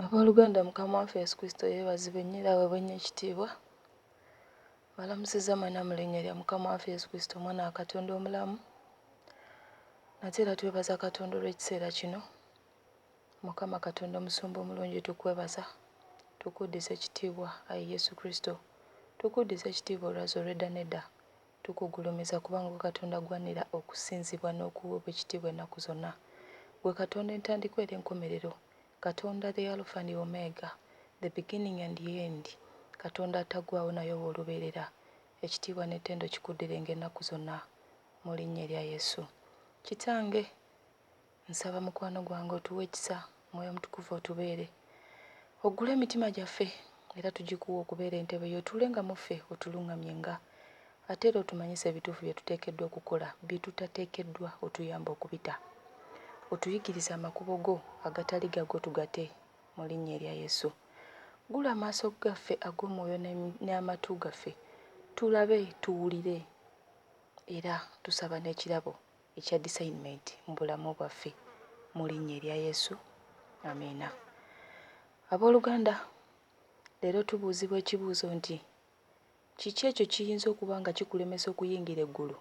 Abooluganda Mukama waffe Yesu Kristo yeebazibwe nnyo era aweebwe nnyo ekitiibwa. Mbalamusizza mwena mu linnya lya Mukama waffe Yesu Kristo omwana wa Katonda omulamu. Nate era twebaza Katonda olw'ekiseera kino. Mukama Katonda omusumba omulungi tukwebaza, tukuddiza ekitiibwa ayi Yesu Kristo. Tukuddiza ekitiibwa olwazi olw'edda n'edda. Tukugulumiza kubanga gwe Katonda agwanira okusinzibwa n'okuweebwa ekitiibwa ennaku zonna. Gwe Katonda entandikwa era enkomerero, Katonda the Alpha and Omega, the beginning and the end, Katonda atagwaawo naye ow'olubeerera. Ekitiibwa n'ettendo kikuddirenga ennaku zonna. Mu linnya erya Yesu. Kitange, Nsaba mukwano gwange otuwe ekisa Mwoyo Mutukuvu otubeere. Oggule emitima gyaffe era tugikuwe okubeera entebe yo otuule nga mu ffe otulungamye nga ate era otumanyise ebituufu bye tuteekeddwa okukola bye tutateekeddwa otuyambe okubita. Otuyigirize amakubo go agatali gago tugate mu linnya erya Yesu. Ggula amaaso gaffe ag'omwoyo n'amatu gaffe tulabe tuwulire era tusaba n'ekirabo. ekya discernment mubulamu bwaffe mulinya erya yesu amiina aboluganda leero tubuuzibwa ekibuuzo nti kiki ekyo kiyinza okuba nga kikulemesa okuyingira eggulu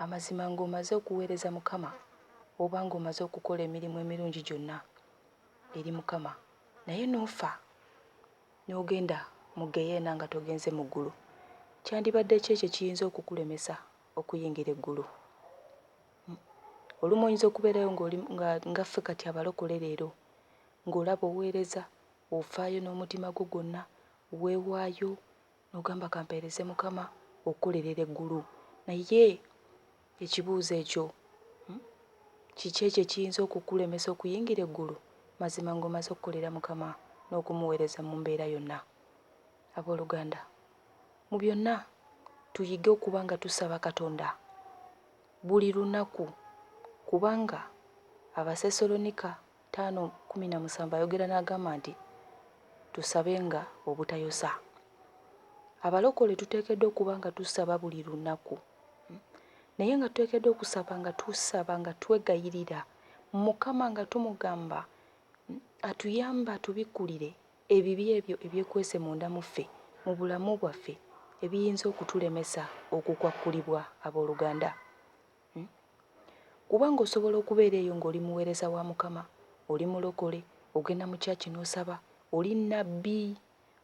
amazima ng'omaze okuweereza mukama oba ng'omaze okukola emirimu emirungi gyonna eri mukama naye n'ofa n'ogenda mu geyeena nga togenze mu ggulu kyandibadde ki ekyo ekiyinza okukulemesa okuyingira eggulu. Olumu oyinza okubeerayo ng'oli nga nga ffe kati abalokole leero, ng'olaba oweereza, ofaayo n'omutima gwo gwonna, weewaayo n'ogamba ka mpeereze Mukama okukolerera eggulu. Naye ekibuuzo ekyo, hmm, kiki ekyo ekiyinza okukulemesa okuyingira eggulu mazima ng'omaze okukolera Mukama n'okumuweereza mu mbeera yonna? Abooluganda, mu byonna tuyige okuba nga tusaba Katonda buli lunaku, kubanga Abasesseronika taano kkumi na musanvu ayogera n'agamba nti, Tusabenga obutayosa. Abalokole tuteekeddwa okuba nga tusaba buli lunaku, naye nga tuteekeddwa okusaba nga tusaba nga twegayirira Mukama nga tumugamba atuyambe atubikkulire Ebibi ebyo ebyekwese munda mu ffe mu bulamu bwaffe ebiyinza okutulemesa okukwakkulibwa, ab'oluganda. Kubanga, osobola okubeera eyo nga oli muweereza wa Mukama, oli mulokole, ogenda mu kyaki n'osaba, oli nnabbi,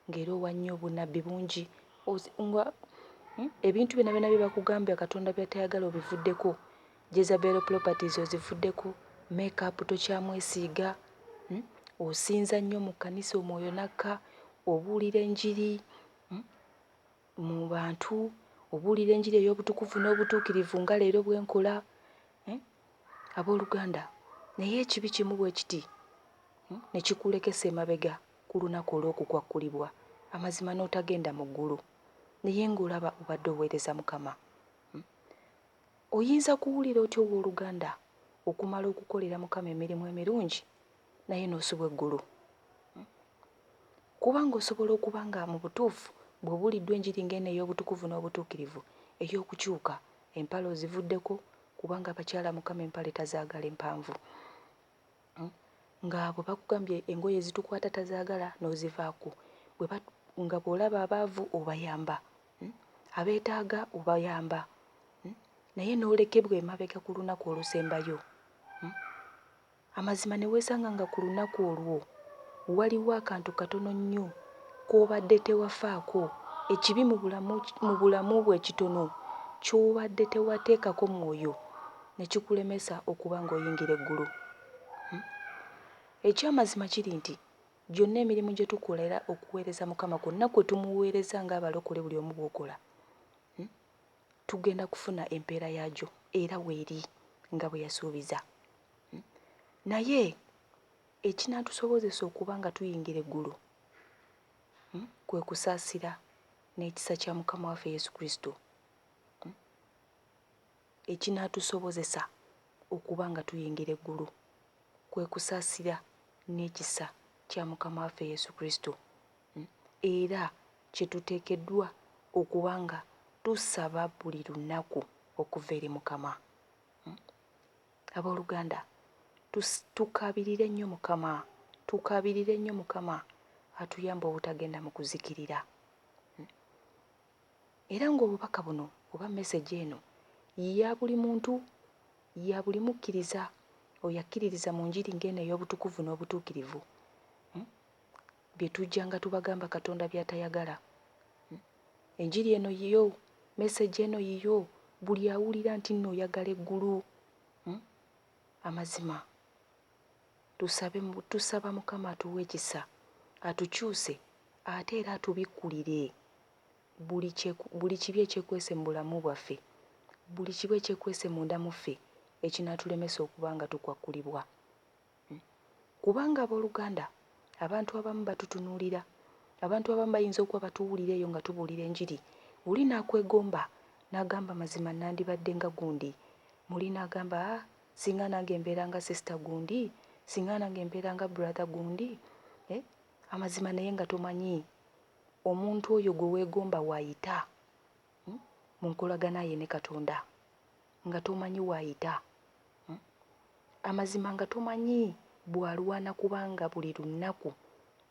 nga era owa nnyo obunnabbi bungi, nga ebintu byonna byonna bye bakugambye Katonda by'atayagala obivuddeko, Jezabel properties ozivudde ku make up tokyamwesiiga hmm? osinza nnyo mu kkanisa omwoyo nakka obuulira enjiri hmm? mu bantu obuulira enjiri ey'obutukuvu n'obutuukirivu nga leero bwe nkola hmm? abooluganda naye ekibi kimu bwe kiti hmm? ne kikuulekesa emabega ku lunaku olw'okukwakkulibwa amazima n'otagenda mu ggulu naye ng'olaba obadde oweereza mukama Oyinza kuwulira otya ow'oluganda okumala okukolera Mukama emirimu emirungi naye n'osubwa eggulu? Kubanga osobola okuba nga mu butuufu bw'obuuliddwa enjiri ng'eno ey'obutukuvu n'obutuukirivu, ey'okukyuka, empale ozivuddeko, kubanga abakyala Mukama empale tazaagala empanvu. nga bwe bakugambye engoye ezitukwata tazaagala n'ozivaako, bwe ba nga bw'olaba abaavu obayamba, abeetaaga obayamba naye n'olekebwa emabega ku lunaku olusembayo, amazima ne weesanga nga ku lunaku olwo waliwo akantu katono nnyo k'obadde tewafaako, ekibi mu bulamu mu bulamu bwo ekitono ky'obadde tewateekako mwoyo ne kikulemesa okuba ng'oyingira eggulu? Eky'amazima kiri nti gyonna emirimu gye tukola era okuweereza Mukama kwonna kwe tumuweereza ng'abalokole buli omu bw'okola, tugenda kufuna empeera yaagyo era weeri nga bwe yasuubiza. Naye ekinaatusobozesa okuba nga tuyingira eggulu kwe kusaasira n'ekisa kya Mukama waffe Yesu Kristo. Ekinaatusobozesa okuba nga tuyingira eggulu kwe kusaasira n'ekisa kya Mukama waffe Yesu Kristo, era kye tuteekeddwa okuba nga tusaba buli lunaku okuva eri Mukama. Ab'oluganda, tukaabirire nnyo Mukama, tukaabirire nnyo Mukama atuyambe obutagenda mu kuzikirira. Era ng'obubaka buno oba message eno ya buli muntu, ya buli mukkiriza oyo akkiririza mu njiri ng'eno ey'obutukuvu n'obutuukirivu, um bye tujjanga tubagamba Katonda by'atayagala. Um enjiri eno yiyo, message eno yiyo, buli awulira nti nno oyagala eggulu, um amazima. tusabe tusaba mukama atuwe ekisa atukyuse ate era atubikkulire buli kye buli kibi ekyekwese mu bulamu bwaffe buli kibi ekyekwese munda mu ffe ekinaatulemesa okuba nga tukwakkulibwa hmm. kubanga abooluganda abantu abamu batutunuulira abantu abamu bayinza okuba batuwulira eyo nga tubuulira enjiri oli n'akwegomba n'agamba mazima nandibadde nga gundi muli n'agamba ah, Singa nange mbeera nga sister gundi singa nange mbeera nga brother gundi eh amazima naye nga tomanyi omuntu oyo gwe wegomba wayita hmm? munkolagana ye ne katonda nga tomanyi wayita hmm? amazima nga tomanyi bwalwana kubanga buli lunnaku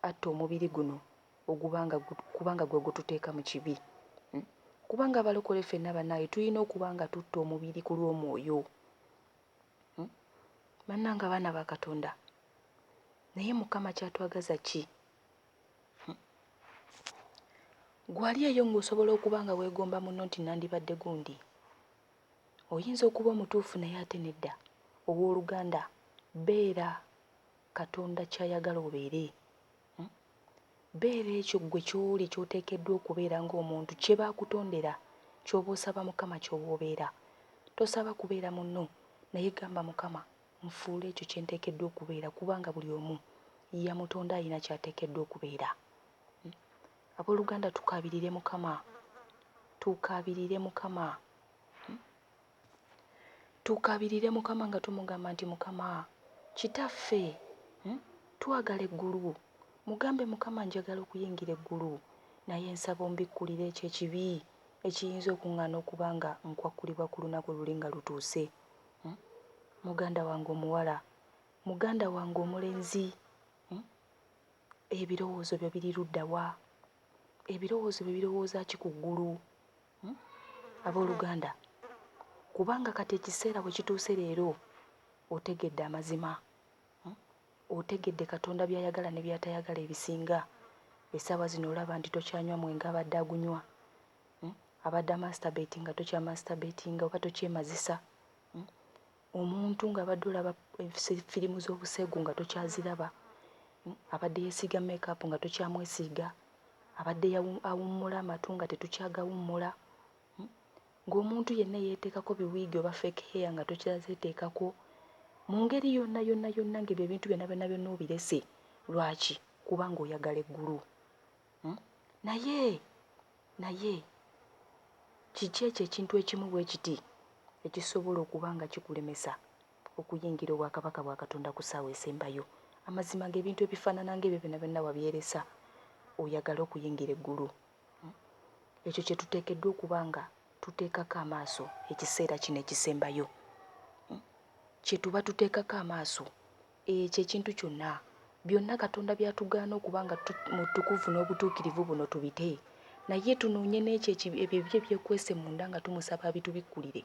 atta omubiri guno oguba nga kuba nga gwe gututeeka mu kibi hmm? kubanga abalokole ffenna bannaaye tulina okuba nga tutta omubiri ku lw'omwoyo hmm? bannanga abaana ba katonda naye mukama kyatwagaza ki hmm? gwali eyo ng'osobola okuba nga weegomba muno nti nandibadde gundi oyinza okuba omutuufu naye ate nedda ow'oluganda beera katonda kyayagala obeere Hmm? Beera ekyo ggwe ky'oli ky'oteekeddwa okubeera ng'omuntu kye baakutondera ky'oba osaba Mukama ky'oba obeera. Tosaba kubeera munno naye gamba Mukama nfuula ekyo kye nteekeddwa okubeera kubanga buli omu yamutonda alina ky'ateekeddwa okubeera. Hmm? Abooluganda tukaabirire Mukama. Tukaabirire Mukama. Tukabirire Mukama nga tumugamba nti Mukama kitaffe hmm, twagala eggulu. Mugambe Mukama njagala okuyingira eggulu naye nsaba ombikkulire ekyo ekibi ekiyinza okuŋŋaana okuba nga nkwakkulibwa ku lunaku luli nga lutuuse. Hmm? Muganda wange omuwala, muganda wange omulenzi, hmm? ebirowoozo byo biri ludda wa? Ebirowoozo byo birowooza ki ku ggulu? Hmm? Abooluganda, kubanga kati ekiseera bwe kituuse leero, otegedde amazima. Hmm? Otegedde Katonda by'ayagala ne by'atayagala ebisinga. Essaawa zino olaba nti tokyanywa mwenge abadde agunywa. Hmm? Abadde amansitabeeti nga tokyamansitabeti nga oba tokyemazisa. Omuntu ng'abadde olaba firimu z'obuseegu nga tokyaziraba, abadde yeesiiga meekaapu nga tokyamwesiiga, abadde awummula amatu nga tetukyagawummula, ng'omuntu yenna eyeeteekako biwiigi oba fake hair nga tokyazeeteekako. Mu ngeri yonna yonna yonna ng'ebyo ebintu byonna byonna byonna obirese. Lwaki? Kubanga oyagala eggulu. Naye Naye kiki ekyo ekintu ekimu bwe kiti ekisobola okuba nga kikulemesa okuyingira obwakabaka bwa Katonda ku ssaawa esembayo? Amazima ng'ebintu ebifaanana ng'ebyo byonna byonna wabyeresa oyagale okuyingira eggulu? Ekyo kye tuteekeddwa okuba nga tuteekako amaaso ekiseera kino ekisembayo. Kye tuba tuteekako amaaso Ekyo ekintu kyonna, byonna Katonda by'atugaana okuba nga tu, mutukuvu n'obutuukirivu buno tubite, naye tunoonye n'ekyo eki, ebyo ebibi ebyekwese munda nga tumusaba abitubikkulire,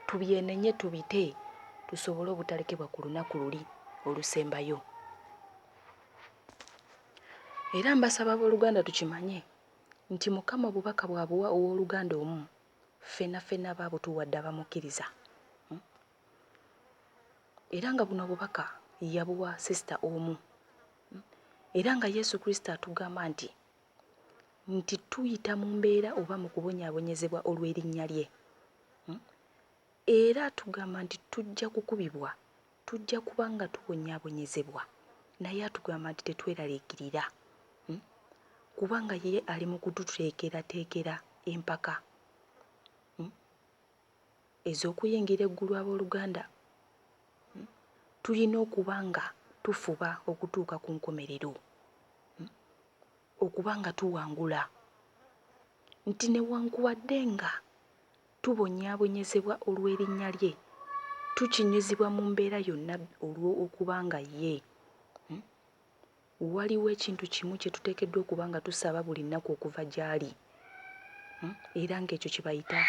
tubyenenye, tubite, tusobole obutalekebwa ku lunaku luli olusembayo. Era mbasaba ab'oluganda tukimanye nti Mukama obubaka bw'abuwa ow'oluganda omu, ffena ffena aba abutuwadde abamukkiriza. era nga buno obubaka yabuwa sisita omu era nga yesu kristo atugamba nti nti tuyita mu mbeera oba mu kubonyaabonyezebwa olw'erinnya lye hmm? era atugamba nti tujja kukubibwa tujja kuba nga tubonyaabonyezebwa naye atugamba nti tetweraliikirira hmm? kubanga ye ali mu kututeekerateekera empaka ez'okuyingira eggulu ab'oluganda, tulina okuba nga tufuba okutuuka ku nkomerero, okuba nga tuwangula, nti newankubadde nga tubonyaabonyezebwa olw'erinnya lye, tukinyizibwa mu mbeera yonna olw'okuba nga ye. Waliwo ekintu kimu kye tuteekeddwa okuba nga tusaba buli nnaku okuva gy'ali, era nga ekyo kye bayita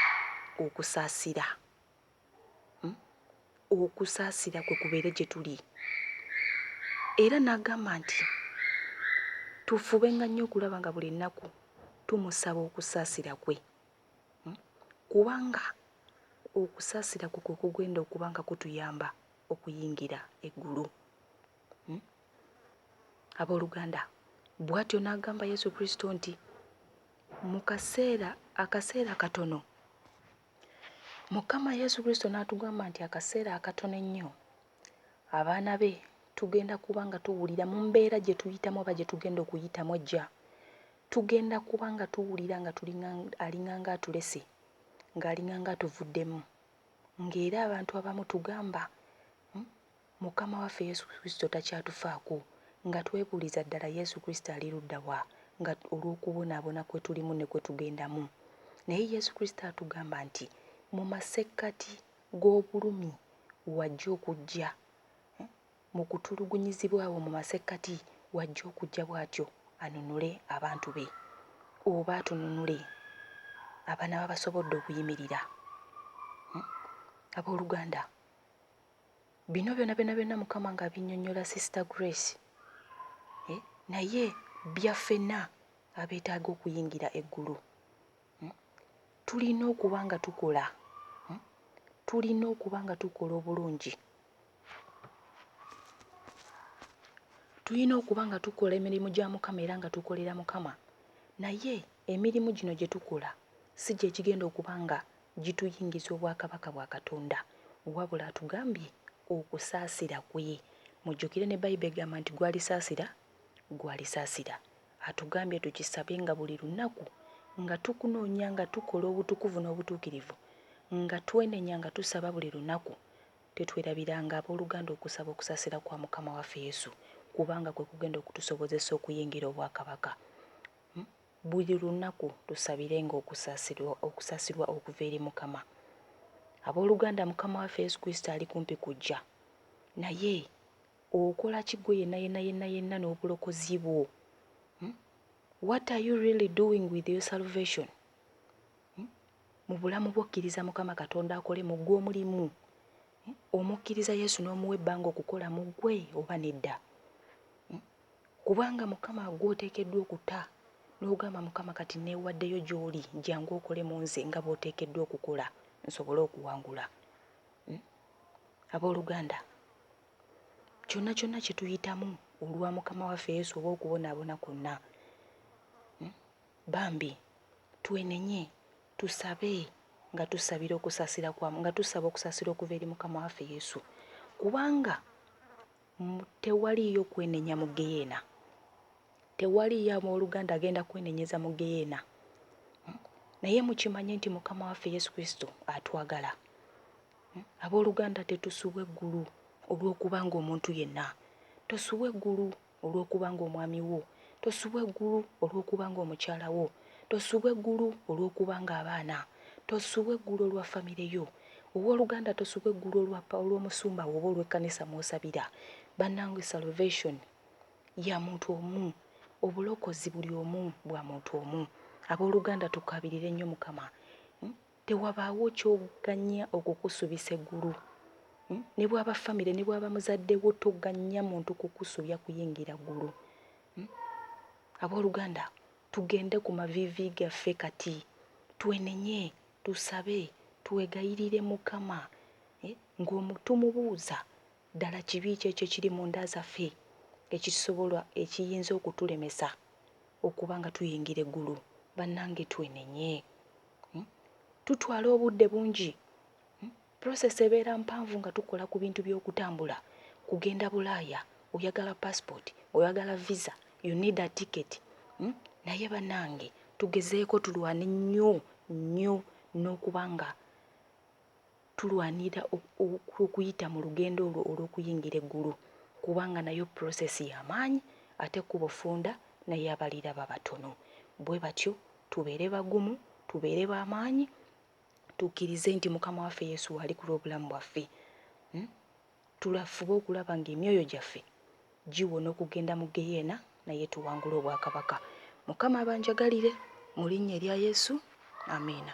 okusaasira. Okusaasira kwe kubeere gye tuli. Era n'agamba nti tufubenga nnyo okulaba nga buli nnaku tumusaba okusaasira kwe, kubanga okusaasira kwe kwe kugenda okuba nga kutuyamba okuyingira eggulu. Hmm? Abooluganda, bw'atyo n'agamba Yesu Kristo nti mu kaseera akaseera katono Mukama Yesu Kristo n'atugamba nti akaseera akatono ennyo abaana be tugenda kuba nga tuwulira mu mbeera gye tuyitamu oba gye tugenda okuyitamu ejja tugenda kuba nga tuwulira nga alinganga atulese ng'alinganga atuvuddemu ng'era abantu abamu tugamba hmm, Mukama waffe Yesu Kristo takyatufaako, nga twebuuliza ddala Yesu Kristo ali ludda wa, nga olw'okubonaabona kwe tulimu ne kwe tugendamu. Naye Yesu Kristo atugamba nti, Mu masekkati g'obulumi wajja okujja, mu kutulugunyizibwa awo mu masekkati wajja okujja bw'atyo anunule abantu be, oba atununule, abanaaba basobodde okuyimirira. Abooluganda, Bino byona byona byona mukama nga abinyonyola sister grace eh naye byafena abetaga okuyingira eggulu hmm? tulina okuba nga tukola hmm? tulina okuba nga tukola obulungi tulina okuba nga tukola emirimu gya mukama era nga tukolera mukama naye emirimu gino gye tukola si gyekigenda okuba nga gituyingiza obwakabaka bwa Katonda, wabula atugambye okusaasira kwe. Mujjukire ne Bible egamba nti gwalisaasira gwalisaasira. Atugambye tukisabe nga buli lunaku nga tukunoonya nga tukola obutukuvu n'obutuukirivu, nga twenenya nga tusaba buli lunaku. Tetwerabiranga aboluganda okusaba okusaasira kwa Mukama waffe Yesu kubanga kwe kugenda okutusobozesa okuyingira obwakabaka. Buli lunaku tusabirenga okusasirwa okuva eri Mukama. Aboluganda Mukama waffe Yesu Kristo ali kumpi kujja. Naye okola ki gwe yena yena yena yena n'obulokozi bwo? Hmm? What are you really doing with your salvation? Hmm? Mu bulamu bwo kkiriza Mukama Katonda akole mu gwe omulimu. Hmm? Omukkiriza Yesu n'omuwa ebbanga okukola mu gwe oba nedda? Hmm? Kubanga Mukama gw'oteekeddwa okuta, n'ogamba, Mukama, kati nneewaddeyo gy'Oli, jjangu okole mu nze nga bw'Oteekeddwa okukola, nsobole okuwangula. Hmm? Ab'oluganda, kyonna kyonna kye tuyitamu olwa Mukama waffe Yesu oba okubonaabona kwonna, hmm? bambi twenenye, tusabe nga tusabira okusaasira kwa, nga tusaba okusaasira okuva eri Mukama waffe Yesu, kubanga Tewaliiyo kwenenya mu ggeyeena. Tewaliiyo abooluganda agenda kwenenyeza mu ggeyeena. Naye mukimanye nti Mukama waffe Yesu Kristo atwagala. Abooluganda, tetusubwa eggulu olw'okuba ng'omuntu yenna. Tosubwa eggulu olw'okuba ng'omwami wo. Tosubwa eggulu olw'okuba ng'omukyala wo. Tosubwa eggulu olw'okuba ng'abaana. Tosubwa eggulu olwa famire yo. Owoluganda tosubwa eggulu olwa pa olwomusumbawo oba olwekkanisa mwosabira banange salvation yamuntu omu obulokozi buli omu bwamuntu omu aboluganda tukabirire nnyo mukama tewabaawo kyogannya okukusubisa eggulu nebwaba famire nebwaba muzaddewo togannya muntu kukusubya kuyingira ggulu aboluganda tugende kumaviivi gaffe kati twenenye Tusabe, twegayirire Mukama eh, ng'omutumubuuza ddala kibi ki ekyo ekiri mu nda zaffe ekisobola ekiyinza okutulemesa okuba nga tuyingira eggulu. Bannange twenenye. Hmm? Tutwala obudde bungi hmm, Process ebeera mpanvu nga tukola ku bintu by'okutambula, kugenda bulaaya, oyagala passport, oyagala visa, you need a ticket hmm? Naye banange tugezeeko tulwane nnyo nnyo n'okuba nga tulwanira okuyita mu lugendo olwo olw'okuyingira eggulu kubanga nayo process y'amaanyi ate kubo funda naye abaliraba batono bwe batyo tubeere bagumu tubeere b'amaanyi tukkirize nti Mukama waffe Yesu waali ku lw'obulamu bwaffe. Tulafube okulaba ng'emyoyo gyaffe giwona okugenda mu ggeyeena naye tuwangule obwakabaka. Mukama abanjagalire. Mu linnya erya Yesu, Amiina.